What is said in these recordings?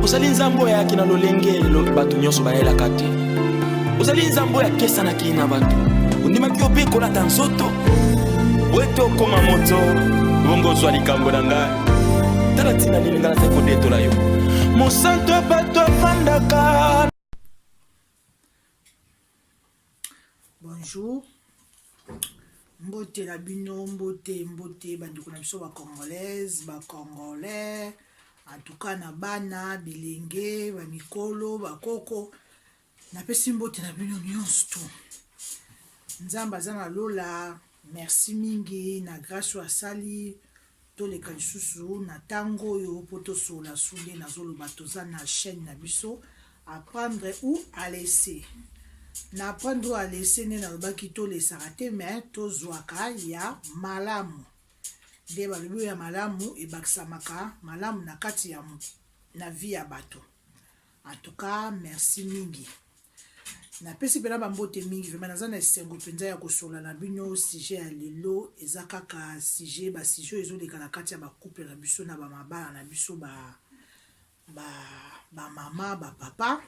ozali nzambe oyo ayaki na lolenge bato nyonso bayelaka te ozali nzambe oyo akesanaki na bato ondimaki yo mpe kolata nzoto wete okoma moto bongo ozwa likambo na ngai tala ntina nini ngai nazali kodetola yo mosantu ya bato afandaka Bonjour. Mbote na bino, mbote, mbote, bandeko na biso ba congolaise, ba congolais, en tout cas na bana, bilenge, ba mikolo, ba koko. Napesi mbote na bino nyonso tu. Nzambe aza na lola. Merci mingi na grâce oyo asali Toleka lisusu na tango oyo po tosolola su nde nazoloba toza na chaine na biso apprendre ou à laisser. Na apprendre ou à laisser nde nalobaki tolesaka te mais tozwaka ya malamu. Nde balobi oyo ya malamu ebakisamaka malamu na kati ya na vie ya bato. En tout cas, merci mingi. napesi mpena bambote mingi vraimen naza na esengo mpenza ya kosola na bino sujet ya lelo eza kaka sujet basujet oyo ezoleka na kati ya bacouple na biso na bamabala na biso bamama bapapa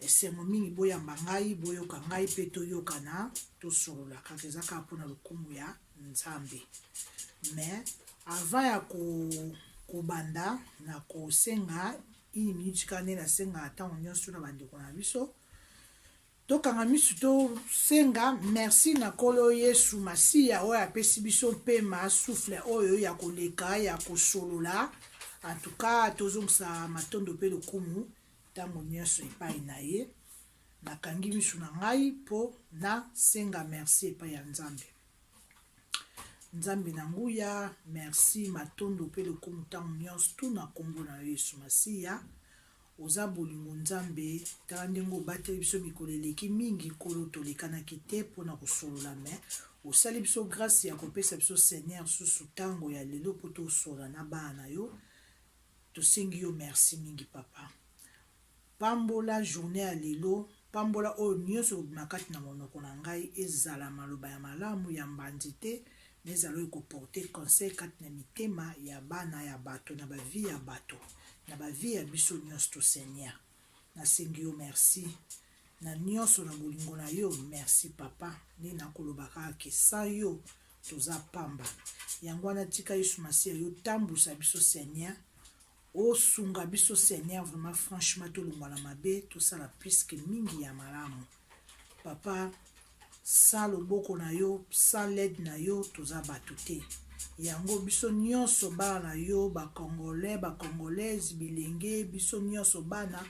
esengo mingi boyamba ngai boyoka ngai mpe toyokana tosolola kaka eza kaka mpona lokumu ya nzambe mais avant ya kobanda na kosenga Une minute kaka nde nasengaka ntango nyonso na bandeko na biso tokanga miso tosenga merci na nkolo yesu masiya oyo apesi biso mpema souffle oyo ya koleka ya kosolola antuka tozongisa matondo mpe lokumu ntango nyonso epai na ye nakangi miso na ngai mpo nasenga merci epai ya nzambe Nzambe na nguya, merci matondo mpe lokumu ntango nyonso tu na nkombo na yo Yesu Masiya. Oza bolingo Nzambe, tala ndenge obateli biso mikolo eleki mingi, Nkolo tolekanaki te mpo na kosolola me osali biso grâce ya kopesa biso Seigneur susu ntango ya lelo mpo tosolola na bana na yo. Tosengi yo merci mingi papa. Pambola journee ya lelo, pambola oyo nionso ekobima kati na monoko na ngai, ezala maloba ya malamu, ya mbanzi te, mais ezala oyo eko porter conseil kati na mitema ya bana ya bato, na ba vies ya bato, na ba vies ya biso nionsto Seigneur. Nasengi yo merci na nionso, na bolingo na yo, merci Papa, nini nakoloba kaka que sans yo toza pamba. Yango wana tika Yesu Masiya yo otambwisa biso Seigneur, Osunga biso Seigneur vraiment franchement tolongwa na mabe tosala plus que mingi ya malamu papa sa loboko na yo sa led na yo toza bato te yango biso nyonso bana na yo bacongolais bacongolaise bilenge biso nyonso bana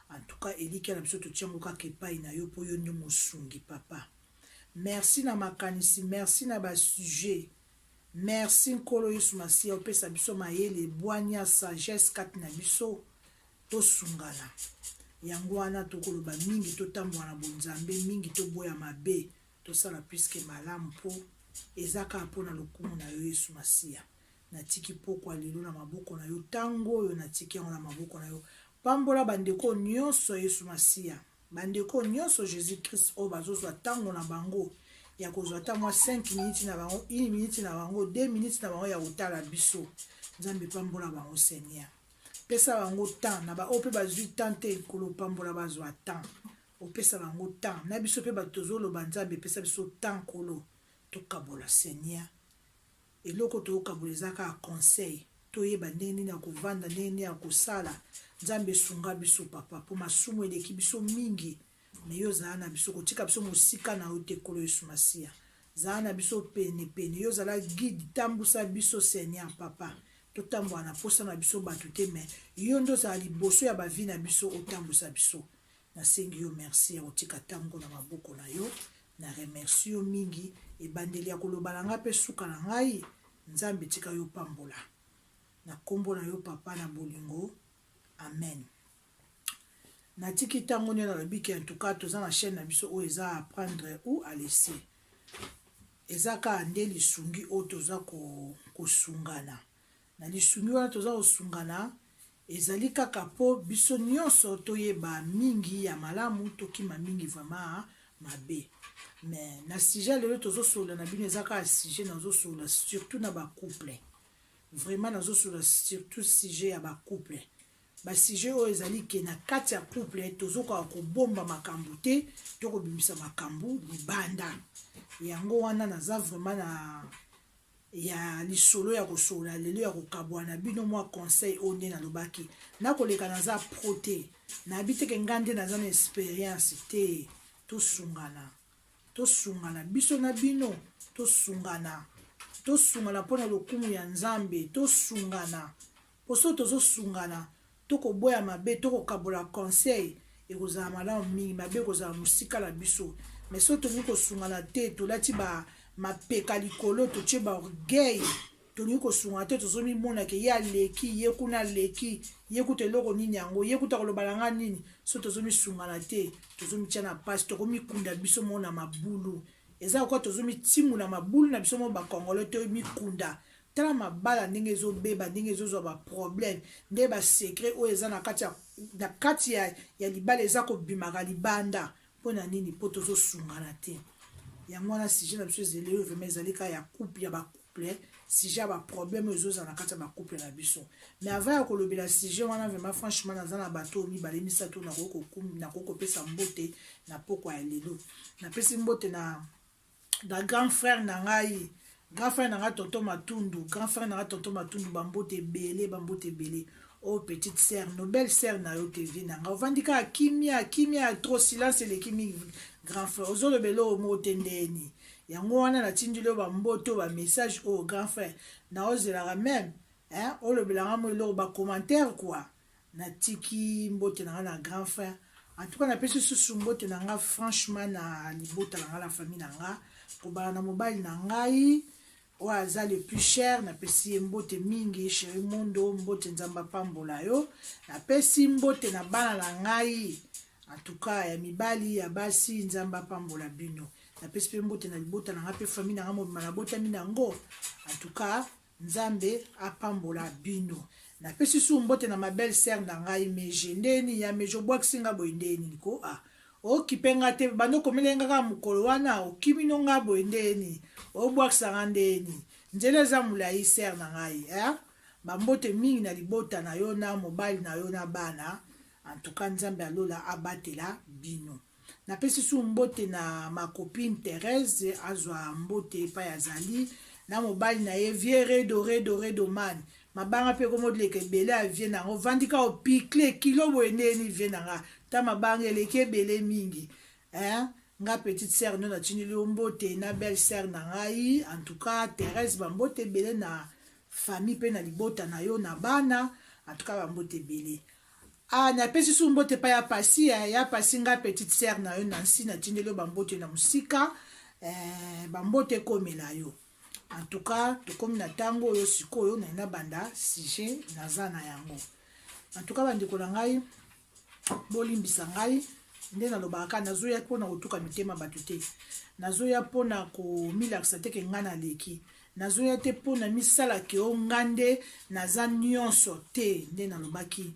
antuka elikya na biso totiango kaka epai na yo mpo yo nde mosungi papa merci na makanisi merci na basujet Merci nkolo yesu masiya opesa biso mayele bwanya sagesse kati na biso tosungana yango wana tokoloba mingi totambola na bonzambe mingi toboya mabe tosala puiske malamu mpo eza kaka mpo na lokumu na yo yesu masiya natiki pokwa lelo na maboko na yo ntango oyo natiki yango na maboko na yo pambola bandeko nyonso yesu masiya Ba ndeko nionso Jesus Christ oyo bazo zwa tango na bango ya kozwa ata mwa 5 minutes na bango, une minute na bango, deux minutes na bango ya kotala biso. Nzambe pambola bango Seigneur. Pesa bango temps na ba oyo pe bazwi temps te Nkolo pambola bazwa temps. Opesa bango temps na biso pe bato tozoloba Nzambe pesa biso temps Nkolo tokabola Seigneur. Eloko tokabola eza kaka conseil toyeba ndenge nini ya kovanda ndenge nini ya kosala nzambe sunga biso papa mpo masumu eleki biso mingi me yo zala na biso kotika biso mosika na yo te kolo yesu masiya zala na biso pene pene yo zala guide tambusa biso seigneur papa totambola na mposa na biso bato te me yo nde ozala liboso ya bavi na biso otambusa biso Nasengi yo merci ya kotika ntango na maboko na yo. Na remercie yo mingi ebandeli ya koloba na ngai mpe suka na ngai. Nzambe tika yo pambola na nkombo na yo papa na bolingo, amen. Natiki ntango nini nalobi ke antuka toza na chaîne na biso oyo eza apprendre ou à laisser eza kaka nde lisungi oyo toza kosungana ko Na lisungi wana toza kosungana, ezali kaka po biso nionso toyeba mingi ya malamu, tokima mingi vraiment ya mabe. Mais na sujet ya lelo tozosolola na bino eza kaka sujet nazosolola surtout na ba couple. Vraiment nazosolola surtout sujet ya ba couple. Ba sujet oyo ezali ke na kati ya couple tozokoka kobomba makambo te, to kobimisa makambo libanda. Yango wana naza vraiment na ya lisolo ya kosolola lelo ya kokabwana bino mwa conseil oyo nde nalobaki nakoleka naza pro te nayebi teke ngai nde naza na experience te tosungana tosungana biso na bino tosungana tosungana mpo na lokumu ya nzambe tosungana Po soki tozo sungana to koboya mabe to kokabola conseil ekozala malamu mingi mabe ekozala mosika na biso mais soki tolingi kosungana te tolati ba mapeka likolo totie ba orgueil tolingi kosungana te tozo mimona ke ye aleki ye kuna aleki ye kuta eloko nini yango ye kuta koloba na nga nini so tozo misungana te tozo mitia na pasi tokomikunda biso moko na mabulu eza lokola tozo mitimuna mabulu na biso moko bakongolo to mikunda Tala mabala ndenge ezo beba ndenge ezo zwa ba problème nde ba secret oyo eza na kati ya na kati ya, ya libala eza kobimaka libanda mpo na nini mpo tozosungana te yango wana sujet na biso ezali oyo vraimen ezali kaka ya couple ya bacouple sujet ya baproblème oyo ezozala na kati ya bacouple na biso mais avant ya kolobela sujet wana vraimen franchement naza na bato oyo mibale misato nakoki kopesa mbote na pokwa ya lelo napesi mbote na na grand frère na ngai grand frère na ngai tonton matundu grand frère na ngai tonton matundu bambote ebele bambote ebele oyo oh, petite sœur no belle sœur na yo te vie na ngai ovandi kaka kimia kimia ya trop silence eleki mingi grand frère ozolobela oyo moko te ndeni yango wana natindeli yo bambote oyo bamessage oyo oh, grand frère naozelaka meme olobelanga mo eloko bacommentaire kua Na tiki mbote na nga na grand frère. En tout cas na pesi susu mbote na nga franchement na libota na nga na famille na nga. Kobala na mobali na ngai. Oyo aza le plus cher na pesi ye mbote mingi chéri mondo mbote nzambe apambola yo. Na pesi mbote na bana na ngai. En tout cas ya mibali ya basi nzambe apambola bino. Na pesi pe mbote na libota na nga pe famille na nga mobimana botami na ngo. En tout cas Nzambe apambola bino. Na pesi su mbote na ma belle sœur na ngai Meje. Ndenge nini ya Meje obwakisi nga boye ndenge nini ko ah. Okipe nga te bando komele nga kaka mokolo wana okimi no nga boye ndenge nini. Obwakisa nga ndenge nini. Nzela eza mulayi sœur na ngai eh. Ba mbote mingi na libota na yo na mobali na yo na bana. En tout cas Nzambe ya lola abatela bino. Napesi su mbote na ma copine Therèse azwa mbote epai azali na mobali na ye vieux Redo Redo Redo man mabanga mpe ekomodileka ebele ya vieux na yango ovandi kaka opikle kilo boye ndenge nini vieux na nga ta mabanga eleki ebele mingi eh? nga petite sœur nde natindeli yo mbote na belle sœur na ngai en tout cas Therèse bambote ebele na famille mpe na libota na yo na bana en tout cas bambote ebele Ah, napesi su mbote pa ya pasi eh, ya pasi nga petite sœur na yo Nancy natindeli yo bambote na mosika eh, bambote ekomela yo en tout cas tokomi na ntango oyo sikoyo naye nabanda sujet naza na yango en tout cas bandeko na ngai bolimbisa ngai nde nalobaka kaka nazoya mpo na kotuka mitema bato te nazoya mpo na komilakisa te ke ngai naleki Nazoya te mpo na misala ke o nga nde naza nionso te nde nalobaki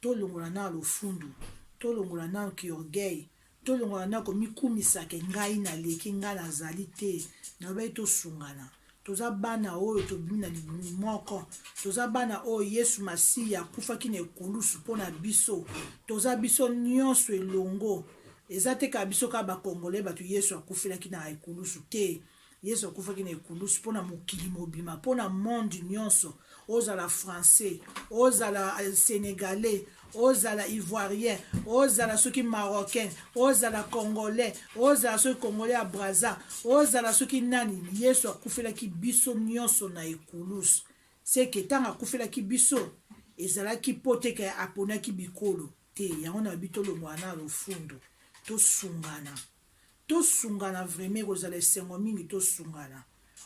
tolongola nao lofundu tolongola nao ki orgueil tolongola nao komikumisa ke ngai naleki ngai nazali te nalobaki tosungana toza bana oyo tobimi na libumu moko toza bana oyo yesu masiya akufaki na ekulusu mpo na biso toza biso nionso elongo eza te kaka biso kaka bakongole bato yesu akufelaki na ekulusu te Yesu akufaki na ekulusu mpo na mokili mobima, mpo na monde nyonso, ozala français, ozala euh, sénégalais, ozala ivoirien, ozala soki marocain, ozala congolais, ozala soki congolais ya Brazza, ozala soki nani, Yesu akufelaki biso nyonso na ekulusu. Seke ntango akufelaki biso ezalaki mpo te ke aponaki bikolo te yango na lobi tolongola na lofundo tosungana tosungana vraimen ekozala esengo mingi tosungana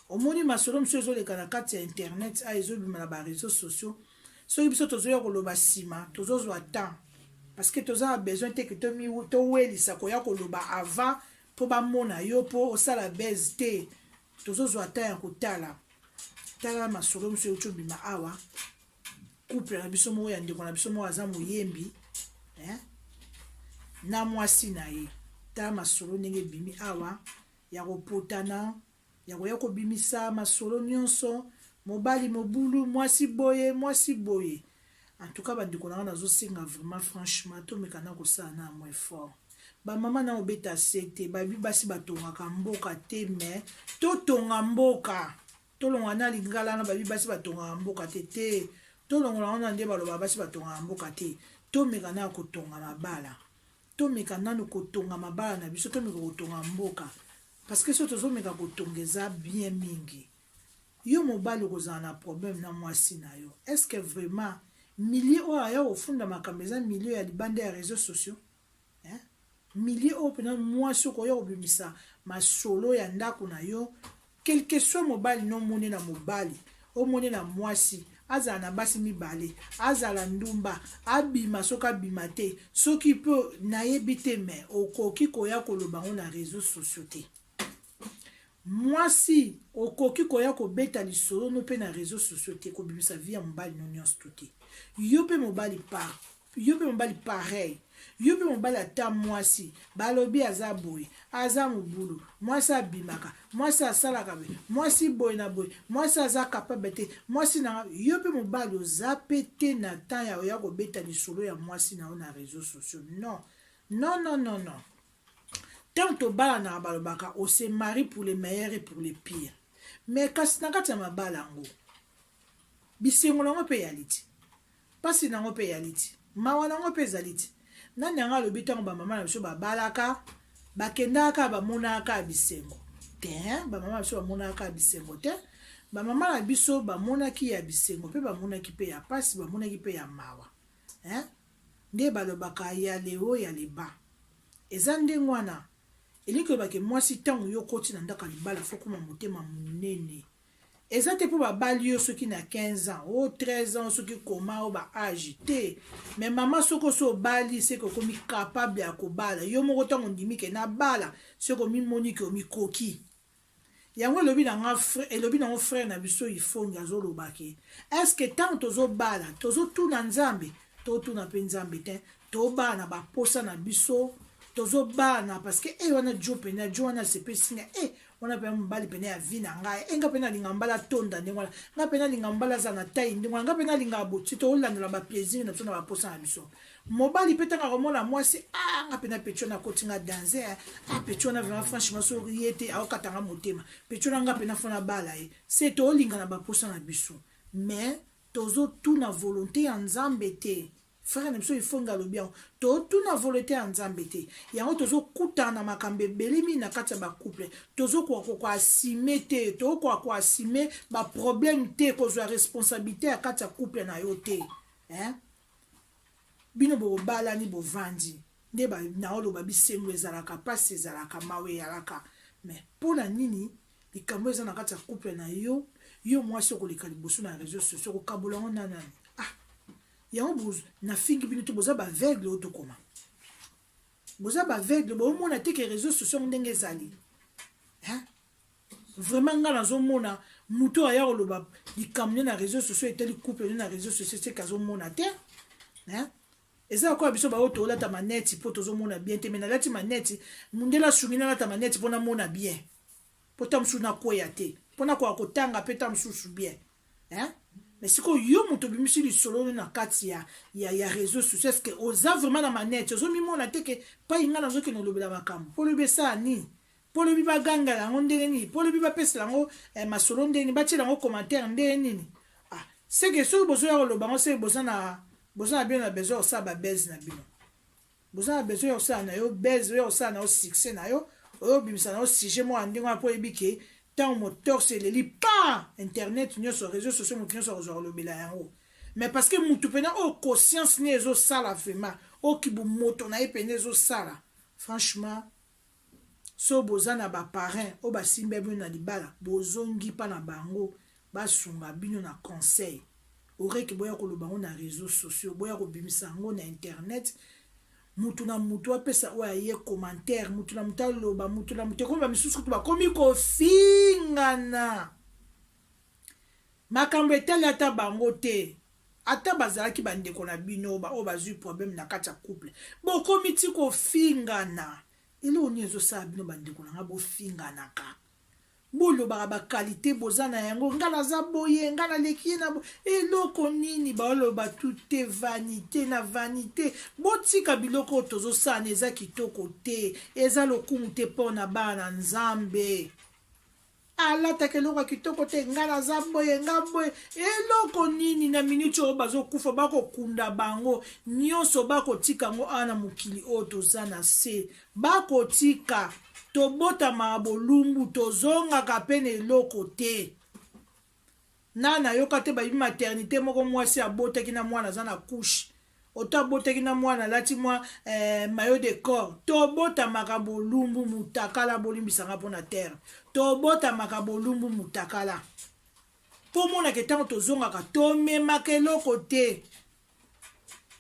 omoni masolo mosusu ezoleka na kati ya internet a ezobima na bareseau sociaux soki biso tozoya koloba nsima tozozwa temps parce que toza na besoin te ke towelisa koya koloba avant mpo bamona yo mpo osala base te tozozwa temps ya kotala tala masolo mosusu euti obima awa couple na biso moko ya ndeko na biso moko aza moyembi eh? na mwasi na ye ta masolo ndenge ebimi awa ya kopotana ya koya kobimisa masolo nyonso mobali mobulu mwasi boye mwasi boye en tout cas bandeko na nga nazosenga vraiment franchement tomeka na kosala na yango effort bamama na obeta se te babi basi batongaka mboka te mais totonga mboka Tolonga na lingala na babi basi batongaka mboka te te tolongola wana nde baloba basi batongaka mboka te tomeka na kotonga mabala tomeka nanu kotonga mabala na biso tomeka kotonga mboka parce que so tozomeka kotonga eza bien mingi yo mobali okozala na problème na mwasi na yo est ce que vraiment milieu oyo aya kofunda makambo eza milieu ya libanda ya réseaux sociaux hein milieu oyo pena mwasi okoya kobimisa masolo ya ndako na yo quelque soit mobali no mone na mobali omone na mwasi azala na basi mibale azala ndumba abima soki abima te soki mpe nayebi te me okoki koya koloba yango na réseau sociaux te mwasi okoki koya kobeta lisolo no mpe na réseau sociaux te kobimisa vi ya mobali no nyonso to te yo mpe mobali par yo mpe mobali pareil yo mpe mobali ata mwasi balobi aza boye aza mobulu mwasi abimaka mwasi asalaka boye mwasi boye na boye mwasi aza kapable te mwasi na yo mpe mobali oza mpe te na temps ya oya kobeta lisolo ya mwasi na yo na réseau sociaux non non non non non ntango tobalanaka balobaka ose marie pour le meilleur et pour le pire mais kasi na kati ya mabala yango bisengo na yango mpe eyali te Pasi nango pe eyali ti. Mawa nango pe ezali ti. Nani anga alobi tango ba mama na biso ba balaka ba kendaka kaka ba monaka kaka bisengo tein ba mama na biso ba monaka kaka bisengo te ba mama na biso ba monaki ya bisengo pe ba monaki pe ya pasi ba monaki pe ya mawa hein nde ba lobaka ya leo ya leba eza nde ngwana elingi koloba ke mwasi tango yo koti na ndaka libala fokoma motema munene Eza te po ba bali yo soki na 15 ans o 13 ans soki koma o ba age te mais mama soki osi obali seke okomi capable ya kobala yo moko ntango ondimi ke na bala seke omimoni ke omikoki yango elobi na nga elobi nango frère na biso ifongi azoloba ke eske ntango tozobala tozotuna nzambe totuna mpe nzambe te tobaa na baposa na biso tozobaa na parce que e wana jo mpena jo wana asepesi nga e wana mpena mobali mpena ya vi na ngai e nga mpena alinga mbala atonda ndenge wana nga mpena alinga mbala aza na tai ndenge wana nga mpena alinga aboti tolandela baplaisir na biso na baposa na biso mobali mpe ntango akomona mwasi a ah, nga mpena peti wana akoti nga danze a ah, peti wana vraimen franchement soki ye te aokata nga motema peti wana nga mpena fona bala ye se toolingana baposa na biso mais tozotuna volonté ya nzambe te Frère na biso Ifonge alobi yango, totuna volonte ya Nzambe te. Yango tozokutana na makambo ebele mingi na kati ya ba couple, tozokoka ko assumer te, tokoka ko assumer ba problème te, kozwa responsabilité ya kati ya couple na yo te hein? Bino bobalani bovandi nde naoloba bisengo ezalaka, mpasi ezalaka, mawa eyalaka, mais mpo na nini likambo eza na kati ya couple na yo, yo mwasi okoleka liboso na réseaux sociaux kokabola yango na nani? Yango bozo na fingi bino te boza ba aveugle oyo tokoma. Boza ba aveugle bo mona te que réseaux sociaux ndenge ezali. Hein? Vraiment nga nazo mona muto aya koloba likamne na réseaux sociaux etali couple na réseaux sociaux c'est kazo mona te. Hein? eza lokola biso baoyo tolata maneti mpo tozomona bien te me nalati maneti mondele asungi nalata maneti mpo namona bien mpo ta mosusu nakweya te mpo nakoka kotanga mpe ta mosusu bien hein mais sikoyo yo moto obimisi lisolo oyo na kati ya, ya, ya réseau social ceque oza vraiment na manete ozomimona te ke pai ngai nazokende olobela makambo mpo olobi esala nini mpo olobi bagangela yango ndenge nini mpo olobi bapesela yango eh, masolo ndenge nini batiela yango commentaire ndenge nini ah, seke soki bozoya koloba yango seke boza na boza na bino na besoin kosala babese na bino boza na besoin ya kosala na yo buzz oya kosala na yo succès na yo oyo obimisa na yo sujet moko ya ndenge wana mpo oyebi ke ntango motorse eleli pa internet nyonso réseau sociaux moto nyonso akozwa kolobela yango mais parce que motu mpena oyo conscience ne ezosala vraiment oyo kibomoto na ye mpena ezosala franchement soki boza na ba parrains oyo basimbia bino na libala bozongi epa na bango basunga bino na conseil aureque boya koloba yango na reseaux sociaux boya kobimisa yango na internet mutu na mutu apesa oyo aye commentaire mutu na mutu aloba mutu na mutu ekomi bamisusu kutu bakomi kofingana makambo etali ata bango te Ata bazalaki ba ndeko na bino ba oyo bazui problème na kati ya couple bokomi ti kofingana eloko nini ezo sala bino ba ndeko na nga bofinganaka bolobaka ba qualité boza na yango nga naza boye nga naleki ye na bo eloko nini baoloba tute vanité na vanité botika biloko oyo tozosala na eza kitoko te eza lokumu te mpo na bana na nzambe alataka eloko ya kitoko te ngai naza boye ngai boye eloko nini na miniti oyo bazokufa bakokunda bango nyonso bakotika yango awa na mokili oyo toza na se bakotika tobotamaka bolumbu tozongaka mpe na eloko te Nana nayoka te bayibi maternite moko muasi abotaki na mwana aza na couche oto abotaki na mwana alati mwa eh, mayo de corps tobotamaka bolumbu mutakala bolimbisa nga mpo na terre tobotamaka bolumbu mutakala mpo omonaka ntango tozongaka tomemaka eloko te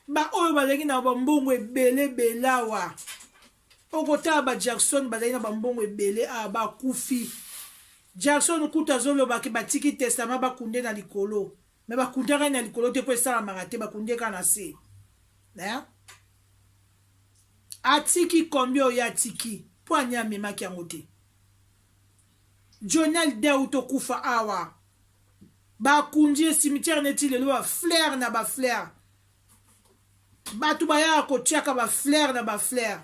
baoyo bazalaki na bambongo ebele belawa Okotala ba Jackson bazali na bambongo ebele awa bakufi. Jackson kutu azoloba ke batiki testament bakunde na likolo. Me bakundaka ye na likolo te mpo esalamaka te, bakunde kaka na se. Eh? Atiki combien oyo atiki mpo ani amemaki yango te. Johnny Hallyday auti okufa awa bakundi ye cimetière neti lelo ba fleur na ba fleur bato bayaka kotiaka baflere na baflere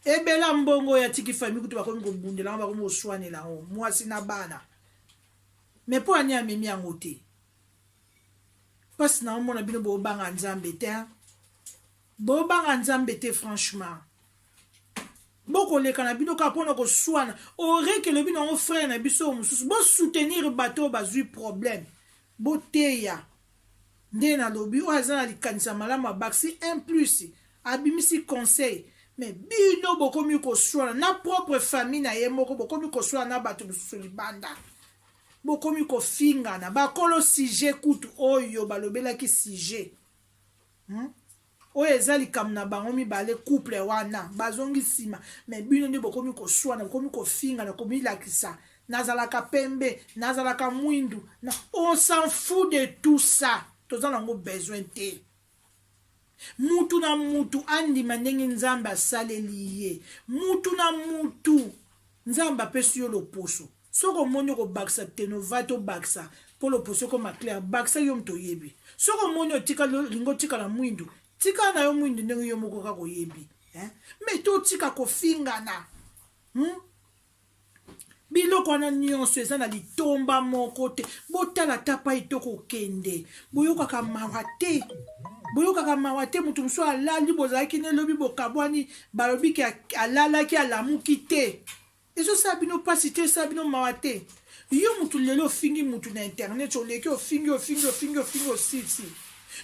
ebela mbongo ya tiki fami kutu bakomi kobundela yango bakomi koswanela yango mwasi na bana me mpo ani amemi yango te mpasi na omona bino bobanga nzambe te bobanga nzambe te franchement bokoleka na bino kaka mpona koswana oreke elobi na yango frere na biso oyo mosusu bosoutenir bato oyo bazwi problème boteya Nde na lobi oyo aza na likanisi ya malamu abakisi un plus abimisi conseil mais bino bokomi koswana na propre famille na ye moko bokomi koswana na batu mususu libanda bokomi kofingana bakolo sujet kutu oyo balobelaki sujet hmm? oyo eza likambo na bango mibale couple wana bazongi nsima me bino nde bokomi koswana bokomi kofingana komilakisa nazalaka pembe nazalaka mwindu na on s'en fou de tout ça toza nango besoin te mutu na mutu andima ndenge nzambe asaleli ye mutu na mutu nzambe apesi yo loposo Soki omoni okobakisa tenova to bakisa po loposo ekoma claire bakisa yo moto oyebi soki omoni otikali olingi otikala mwindu tikala na yo mwindu ndenge yo moko kaka oyebi eh? me totika kofingana hmm? biloko wana nyonso eza na litomba moko te botala ata pai to kokende boyokaka mawa te boyokaka mawa te moto mosusu alali bozalaki nelobi bokabwani balobi ke alalaki alamuki te ezosala bino mpasi te esala bino mawa te yo mutu lelo ofingi mutu na internet oleki ofingi ofingi ofingi ofingi osilisi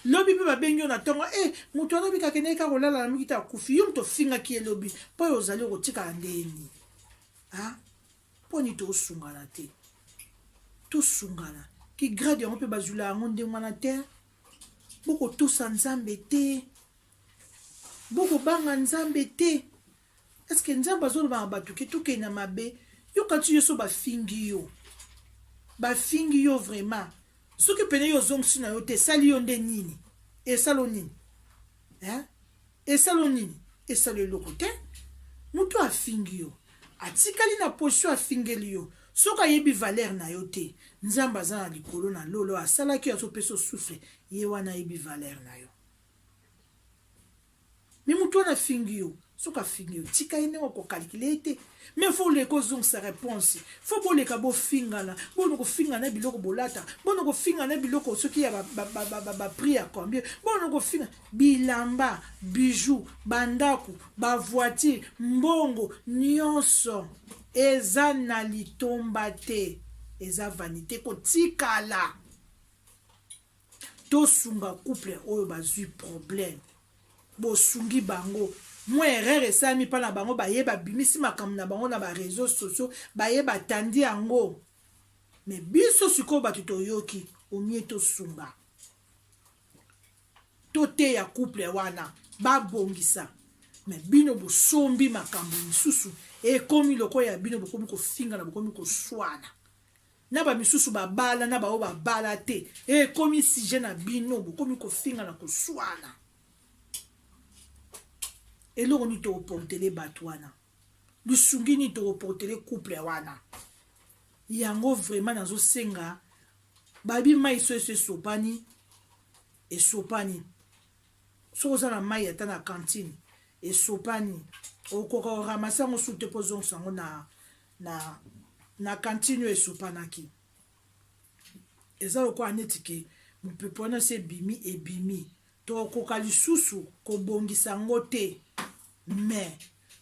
lobi mpe babengi yo na ntongo e eh, moto alobi kakendeki kaka kolala na mikita akufi yo moto ofingaki ye lobi mpo oyo ozali okotikala ndeni mponi tosungana te tosungana kigrade yango mpe bazwila yango ndenge wana te bokotosa nzambe te bokobanga nzambe te Est-ce que Nzambe azolobaka bato ke tokende na mabe? Yo kanti yo so bafingi yo, bafingi yo vraiment. Soki pene yo ozongisi na yo te, esali yo nde nini? Esalo nini? Hein? Esalo nini? Esalo eloko te. Moto afingi yo, atikali na position afingeli yo. Soki ayebi valeur na yo te, Nzambe aza na likolo na lolo, asalaki yo azopesa souffle, ye wana ayebi valeur na yo. Mais mutu wana afingi yo soki afingi yo tika ye ndenge okokalikile ye te mais fo oleka ozongisa réponse fo boleka bofingana bono kofinga na biloko bolata bono kofinga na biloko soki ya baprix ya combien bono kofinga bilamba bijou bandako bavoitire mbongo nyonso eza na litomba te eza vanité kotikala tosunga couple oyo bazwi problème bosungi bango mwa erreur esalami mpa na bango baye babimisi makambo na bango na bareseau sociaux baye batandi yango me biso sikoyo bato toyoki omie tosunga toteya couple wana babongisa me bino bosombi makambo mosusu ekomi lokola ya bino bokomi kofingana bokomi koswana na ba misusu babala na baoyo babala te e komi sujet na bino bokomi kofinga na koswana eloko nini tokoportele bato wana lisungi nini tokoportele couple wana yango vraiment nazosenga babi mai so eso esopani esopani soki oza na mai ata na kantine esopani okoka oramase yango su te mpo ozongisa yango na na, na kantini oyo esopanaki eza lokola neti ke mopepe wana se ebimi ebimi tokokoka lisusu kobongisa yango te mais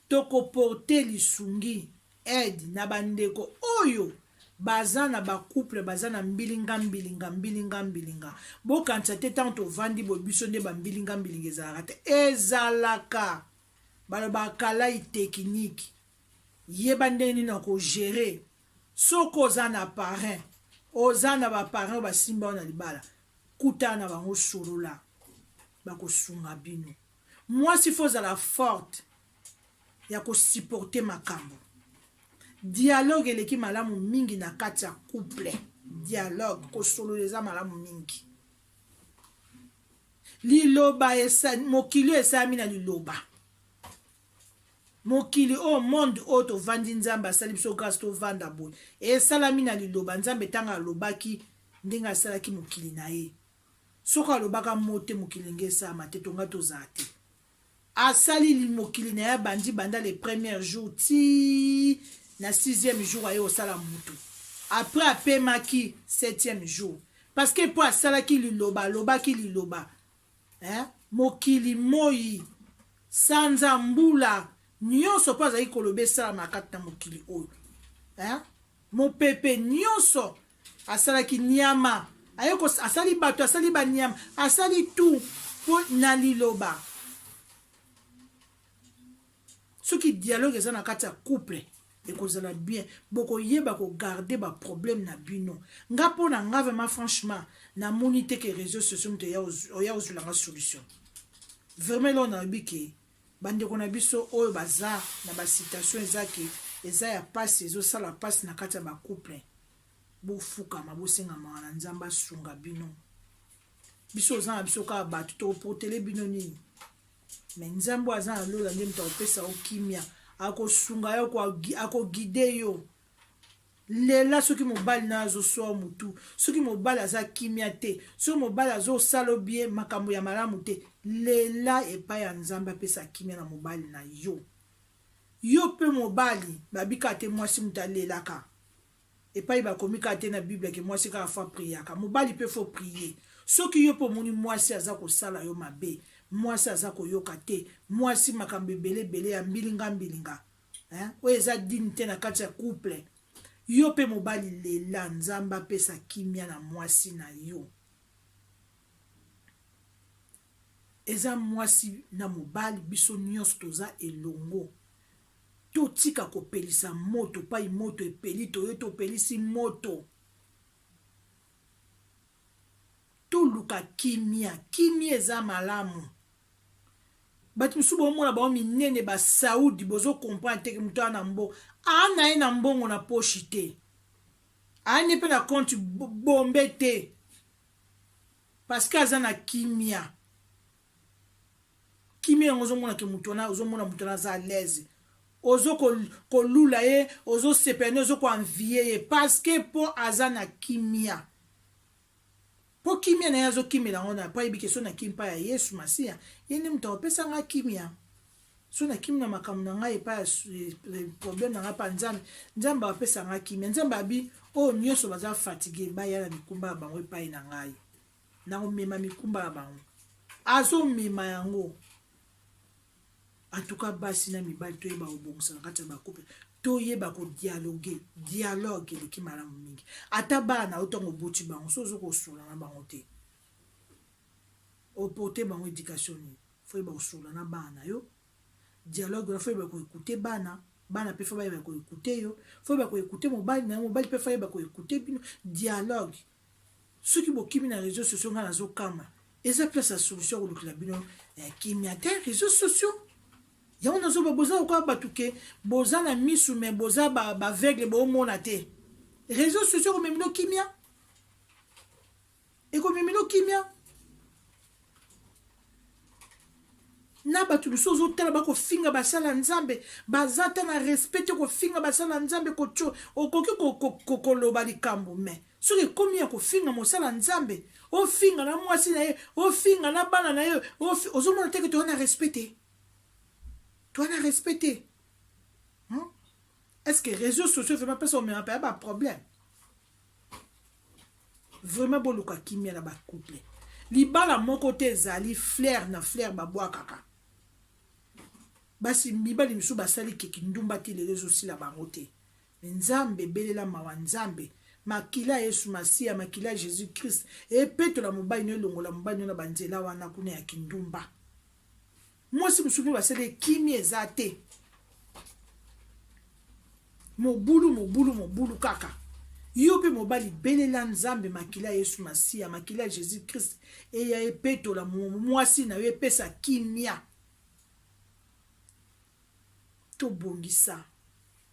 tokoporte lisungi aide na bandeko oyo baza na bacouple baza na mbilinga mbilinga mbilinga mbilinga bokanisa te ntango tovandi boye biso nde bambilinga mbilinga ezalaka te ezalaka balobaka kalai tekiniki Yeba ndenge nini oko gerer soki oza na parrain, oza na ba parrain ba simba yo na libala, kutana na bango solola bako sunga bino. Mwasi faut ozala forte ya ko supporter makambo. Dialogue eleki malamu mingi na kati ya couple. Dialogue kosolola eza malamu mingi. Liloba esa mokili esalami na liloba. Mokili oyo monde oyo tovandi nzambe asali biso grace tovanda boye esalami na liloba nzambe ntango alobaki ndenge asalaki mokili na ye soko alobaka mote mokili nge esalama te tonga tozala te asali mokili na ye abandi banda le premier jour ti na sixième jour aye kosala motu après apemaki septième jour parce que mpo asalaki liloba alobaki liloba eh? mokili moi sanza mbula nyonso mpo azali koloba esalamaka kati na mokili oyo eh? mopepe nyonso asalaki nyama aye asali bato asali banyama asali tu mpo na liloba soki dialogue eza na kati ya couple ekozala bien bokoyeba kogarde baproblème na bino nga mpo na nga vraiment franchement namoni te ke réseau sociaux moto oya ozwela nga solution vraiment eloko nalobi ke bandeko na biso oyo baza na bacitation eza ke eza ya mpasi ezosala mpasi na kati ya bacouple bofukama bosengama na nzambe asunga bino biso oza na biso kaka bato tokoprotele bino nini Mais nzambe aza na lola nde moto akopesa yo kimia akosunga yo akogide yo lela soki mobali na azoswa motu soki mobali aza kimia te soki mobali azosala obie makambo ya malamu te lela epai ya nzambe apesa kimia na mobali na yo yo mpe mobali babika te mwasi moto alelaka Epayi bakomi kaka te na bible ke mwasi kaka faut a priaka. Mobali pe faut prier. Soki yo pe omoni mwasi aza kosala yo mabe, mwasi aza koyoka te, mwasi makambo ebele ebele ya mbilinga mbilinga. Hein? Oyo eza digne te na kati ya couple. Yo pe mobali lela Nzambe apesa kimia na mwasi na yo. Eza mwasi na mobali biso nionso toza elongo. Totika kopelisa moto epai moto epeli, toye topelisi moto. Toluka kimia, kimia eza malamu. Bato mosusu bomona bango minene ba Saudi, bozo comprendre te ke moto aa na mbo aa na ye na mbongo na poshi te, aa ne mpe na compte bombe te parce que aza na kimia. kimia yango ozomona ke moto wana ozomona moto wana aza alaise ozo kolula ye ozosepela nde ozo koanvie ye parceke mpo aza na kimia mpo kimia na ye azokimela yango na mpo ayebi ke so nakimi mpa ya yesu masiya ye nde moto akopesa ngai kimia so nakimi na makambo na ngai epai ya probleme na ngai mpa nzambe nzambe apesa ngai kimia nzambe abi oyo nyonso baza fatigue baya na mikumba ya bango epai na ngai na komema mikumba ya bango azomema yango antuka basi na mibali toyeba kobongisa na kati ya bakupe toyeba kodialoge dialogue eleki malamu mingi ata bana na yo ntango oboti bango so ozo kosola na bango te oporte bango éducation nini foyeba kosola na bana na yo dialogue wana foyeba koekute bana bana mpe fo bayeba koekute yo foyeba koekute mobali na yo mobali mpe foyeba koekute bino dialogue Soki bokimi na reseaux sociaux nga nazo kama. Eza place ya solution kolukela bino eh, kimia te reseaux sociaux. Yango nazo ba boza lokola batu ke boza na misu mais boza ba ba aveugle bo mona te. Reseaux sociaux ko memino kimia. Eko memino kimia. na bato biso ozotala bakofinga basala ya nzambe baza ata na respect te kofinga basala ya nzambe kotyo okoki koloba likambo me soki ekomi ya kofinga mosala ya nzambe ofinga na mwasi na ye ofinga na bana na ye ozomona teke toza na respect te toza na respect te hmm? est ce que réseau sociaux vraimen mpe somema mpe ya baproblème vraiment boluka kimia na ba couple libala moko te ezali flair na flair babwakaka basi mibali misusu basali keki ndumba ti lelo ezosila bango te me nzambe belela mawa nzambe makila ya yesu masiya makila ya jésus christ epetola mobali no elongola mobali no na banzela wana kuna ya kindumba Mwasi mosusu mpe basali ye kimia eza te. Mobulu, mobulu, mobulu kaka. Yo mpe mobali, belela Nzambe makila ya Yesu Masiya, makila ya Jesus Christ eya epetola mwasi na yo, epesa kimia. Tobongisa.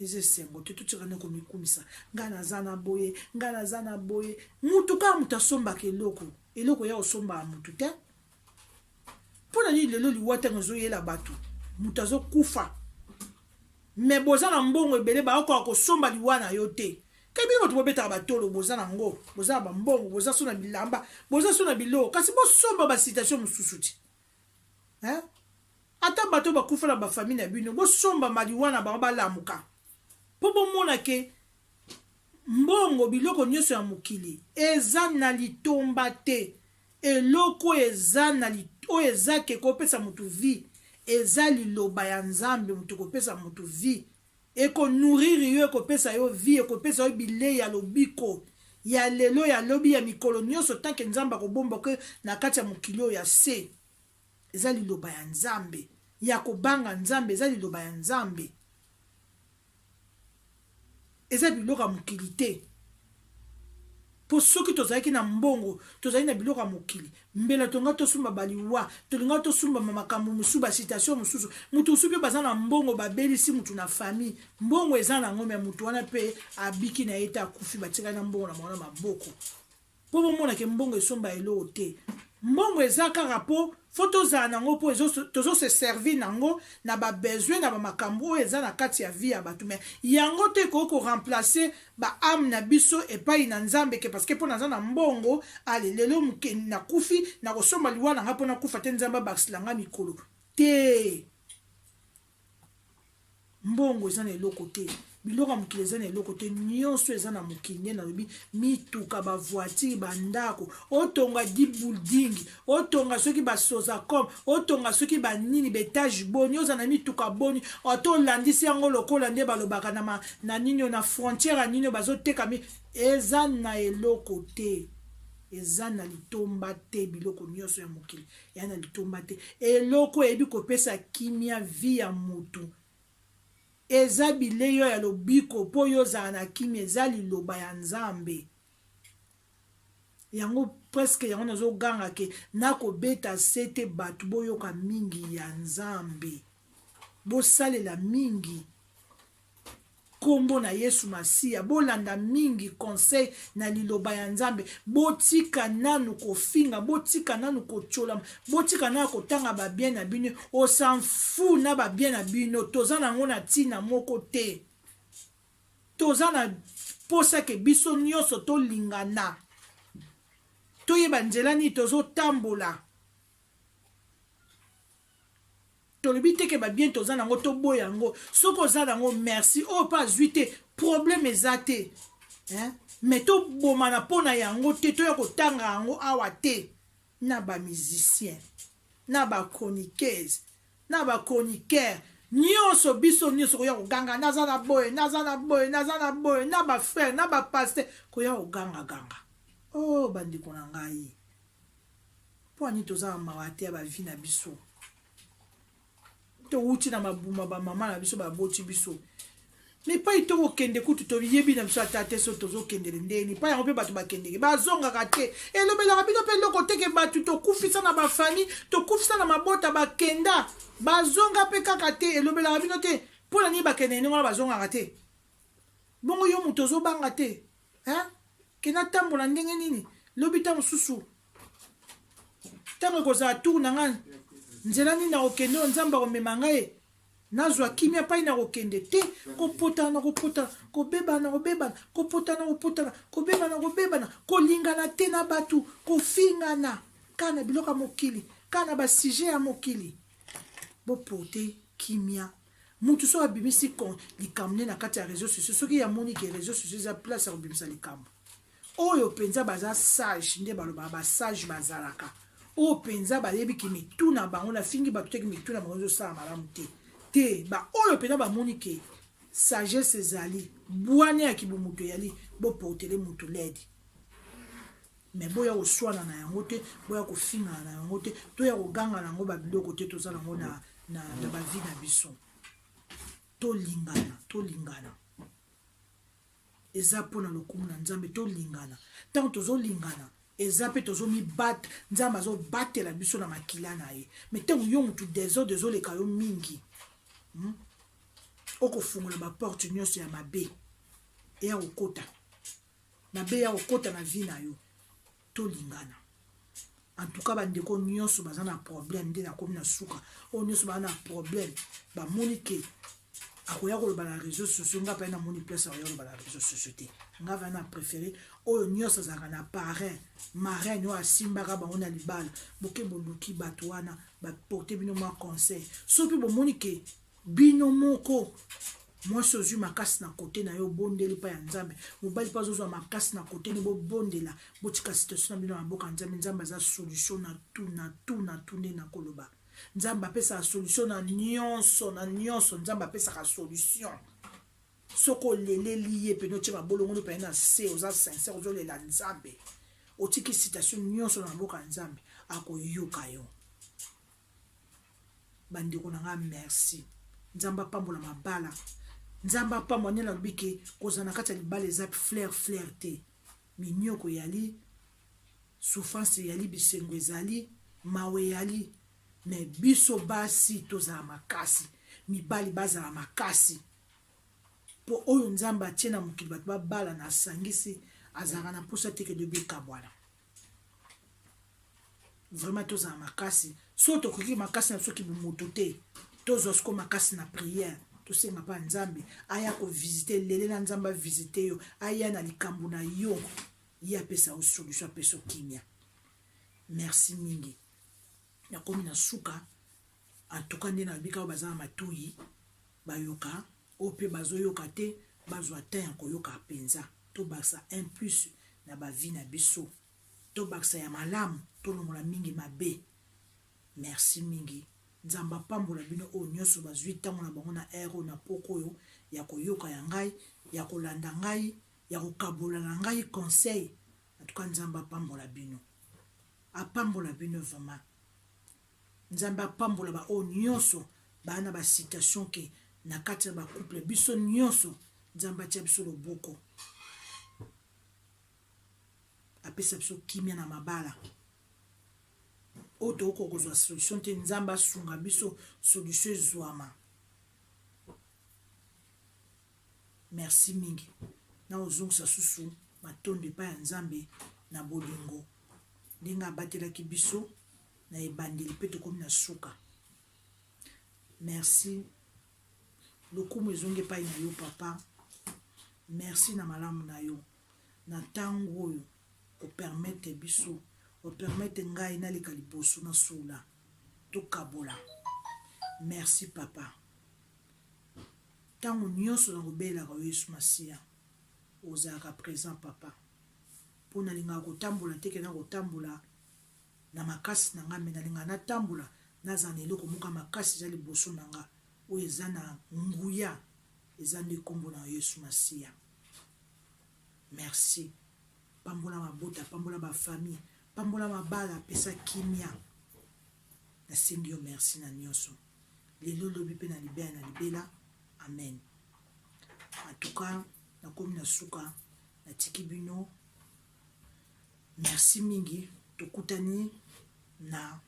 eza esengo te totika na komikumisa ngai naza na boye ngai naza na boye motu kaka moto asombaka eloko eloko ya kosombaka motu te mpo na nini lelo liwa ntango ezoyela bato moto azokufa me boza na mbongo ebele baokoka kosomba liwa na yo te kebi bato bobetaka batolo boza na ngo boza na bambongo boza so na bilamba boza so na biloko kasi bosomba basitation mosusu te hein? ata bato bakufa na bafamille na bino bosomba maliwana bango balamuka mpo bomona ke mbongo biloko nyonso ya mokili eza na litomba te eloko eza na oyo eza ke kopesa moto vie eza liloba ya nzambe moto kopesa moto vie Eko nourrir yo, ekopesa yo vie, ekopesa yo bileyi ya lobiko ya lelo, ya lobi, ya mikolo nionso tant que Nzambe akobomba que na kati ya mokili oyo ya se. Eza liloba ya Nzambe ya kobanga Nzambe, eza liloba ya Nzambe. Eza biloko ya mokili te. Po soki tozalaki na mbongo, tozali na biloko ya mokili, mbela tolingaki tosumba ba liwa, tolingaki tosumba ma makambo mosusu, ba citation mosusu. Mutu mosusu pe baza na mbongo babelisi mutu na famille, mbongo eza na yango mais mutu wana pe abiki na ye te, akufi batikali na mbongo na bango na maboko. Po bomona ke mbongo esomba eloko te. Mbongo eza kaka po Faut tozala nango po ezo tozo se servir nango na ba besoin na ba makambu oyo eza na kati ya vie ya batu mais yango te ekoki ko remplacer ba ame na biso epayi na nzambe que parce que po naza na mbongo allez lelo muke na kufi na kosomba liwa na nga po na kufa te nzambe abakisela nga mikolo te mbongo eza na eloko te biloko ya mokili eza na eloko te nyonso eza na mokili nde nalobi mituka bavoitire bandako otonga di building otonga soki basosacom otonga soki banini baetage boni oza na mituka boni oto olandisi yango lokola nde balobaka na, ma, na nini na frontiere ya nini bazotekami eza na eloko te eza na litomba te biloko nyonso ya mokili ya na litomba te eloko eyebi kopesa kimia vie ya mutu eza bilei oyo ya lobiko mpo yo ozala na kimia eza liloba ya nzambe yango preske yango nazoganga ke nakobeta se te bato boyoka mingi ya nzambe bosalela mingi Kombo na yesu masiya bolanda mingi conseil na liloba ya nzambe botika nanu kofinga botika nanu kotiolam botika nanu kotanga ba bien na bino osanfu na ba bien na bino toza na yango na tina moko te toza na posa ke biso nyonso tolingana toyeba nzela nini tozotambola tolobi te ke ba bien toza nango toboya yango soki oza nango merci oyo oh, mpe azwi te problème eza te hein? mais tobomana mpo na yango te toya kotanga yango awa te na bamusicien na bachroniqueuse na bachroniqueur nyonso biso nyonso koya koganga naza na boye naza na boye naza na boye na bafrère na bapaster koya kogangaganga o oh, bandeko na ngai Pua nini toza na mawa te ya ba vie na biso? Towuti na mabuma ba mama na biso baboti biso. Mais pai toko kende kutu to yebi na biso ata te so tozo kende le ndeni pai yango pe bato ba kende ke bazonga ka te elobela ka bino pe loko teke bato to kufisa na ba famille to kufisa na mabota ba kenda bazonga pe kaka te elobela ka bino te pona ni ba kende ni wana bazonga ka te bongo yo moto ozo banga te hein kenda tambola ndenge nini lobi ta mosusu ntango ekozala tour na ngai nzela nini nakokende oyo nzambe akomema ngai nazwa kimia mpai nakokende te kopotana na kopotana kobebana na kobebana kopotana na kopotana kobebana na kobebana kolingana te na bato kofingana kaka na biloko ya mokili kaka na basujet ya mokili bopote kimia motu soki abimisi likambo nde na kati ya réseau sociaux soki yamoni ke réseau sociaux eza place ya kobimisa likambo oyo mpenza baza sage nde balobaka basage bazalaka oyo mpenza bayebi ke mitu na bango nafingi bato teke mitu na bango ezosala malamu te te baoyo mpenza bamoni ke sagesse ezali bwane ya kibomoto eyali boportele moto lede me boya koswana na yango te boya kofingana na yango te toya koganga na yango babiloko te toza nango na, na, na bavi na biso tolingana tolingana eza mpo na lokumu na nzambe tolingana ntango tozolingana eza mpe tozomibate nzambe azobatela biso na makila na ye me ntango yo motu desordre ezoleka yo mingi hmm? okofungola baporte nyonso ya mabe eya kokota mabe ya kokota na vi na yo tolingana en tout cas bandeko nyonso baza na problème nde nakomi na suka oyo nyonso baza na problème bamoni ke akoya koloba na réseau sociaux nga pai namoni place akoya koloba na réseau sociaux te nga vai na préféré oyo nyonso azalaka na parrain maraine oyo asimbaka bango na libala boke boluki bato wana baporte bino mwa conseil soki bomoni ke Bino moko mwasi ozwi makasi na kote na yo obondeli mpa ya nzambe mobali mpe azozwa makasi na kote ni bobondela botika situation na bino na maboka nzambe nzambe aza solution na tu na tu na tu nde nakoloba nzambe apesaka solution na nyonso na nyonso nzambe apesaka solution soki oleleli ye mpene otie mabolongoli mpene na se oza sincere ozolela nzambe otiki situation nyonso na maboko ya nzambe akoyoka yo ba ndeko na nga merci nzambe apambola mabala nzambe apambola nde nalobi ke kozala na kati ya libala eza flaire flaire te minioko eyali souffrance eyali bisengo ezali mawa eyali me biso basi tozala makasi mibali bazala makasi mpo oyo nzambe atie na mokili bato babala na asangisi azalaka na mposa te ke dobi ekabwana vraiment tozala makasi so tokoki makasi na biso kibomoto te tozwa siko makasi na priere tosenga mpa nzambe aya kovisite lele na nzambe avisite yo aya na likambo na yo ye apesa yo solution apesa yo kimia merci mingi nakomi na suka antuka nde nalobi kaka baza na matoyi bayoka Oyo pe bazo yoka te bazwa temps ya koyoka penza. Tobakisa un plus na ba vie na biso. Tobakisa ya malamu tolongola mingi mabe. Merci mingi. Nzambe apambola bino oyo nionso bazwi tango na bango na heure oyo na pokwa oyo ya koyoka ya ngai, ya kolanda ngai, ya kokabola na ngai conseil. En tout cas Nzambe apambola bino. Apambola bino vraiment. Nzambe apambola ba oyo nionso ba na ba situation ke na kati na ba couple biso nionso Nzambe atia biso loboko apesa biso kimia na mabala oyo tokoki kozwa solution te nzambe asunga biso solution ezwama merci mingi na ozongisa susu matondo epai ya nzambe na bolingo ndenge abatelaki biso na ebandeli mpe tokomi na suka merci lokumu ezongi epai na yo papa merci na malamu na yo na ntango oyo opermete biso opermete ngai naleka liboso na sula tokabola merci papa ntango nyonso na kobelaka yo yesu masiya ozalaka présent papa mpo nalingaka kotambola te kena kotambola na makasi na nga mais na lingaka na tambola na zala na eloko moko ya makasi eza liboso na nga oyo eza na nguya eza nde kombo na Yesu Masiya merci pambola mabota pambola ba famille pambola mabala pesa kimia nasengi yo merci na nyonso lelo lobi mpe na libela na libela amen en tout cas nakomi na suka natiki bino Merci mingi, tokutani na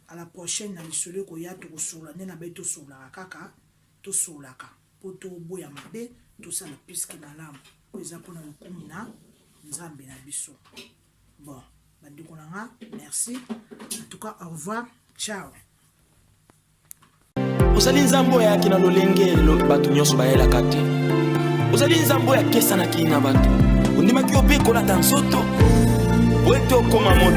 à la prochaine na lisolo ekoya tokosolola nde na bai tosololaka kaka tosololaka mpo toboya mabe tosala piske malamu mpo eza mpona lokumu na nzambe na biso bon bandeko na nga merci en tout cas au revoir ciao ozali nzambe oyo ayaki na lolenge bato nyonso bayelaka te ozali nzambe oyo akesanaki na bato ondimaki yo mpe kolata nzoto oyo ete okoma moto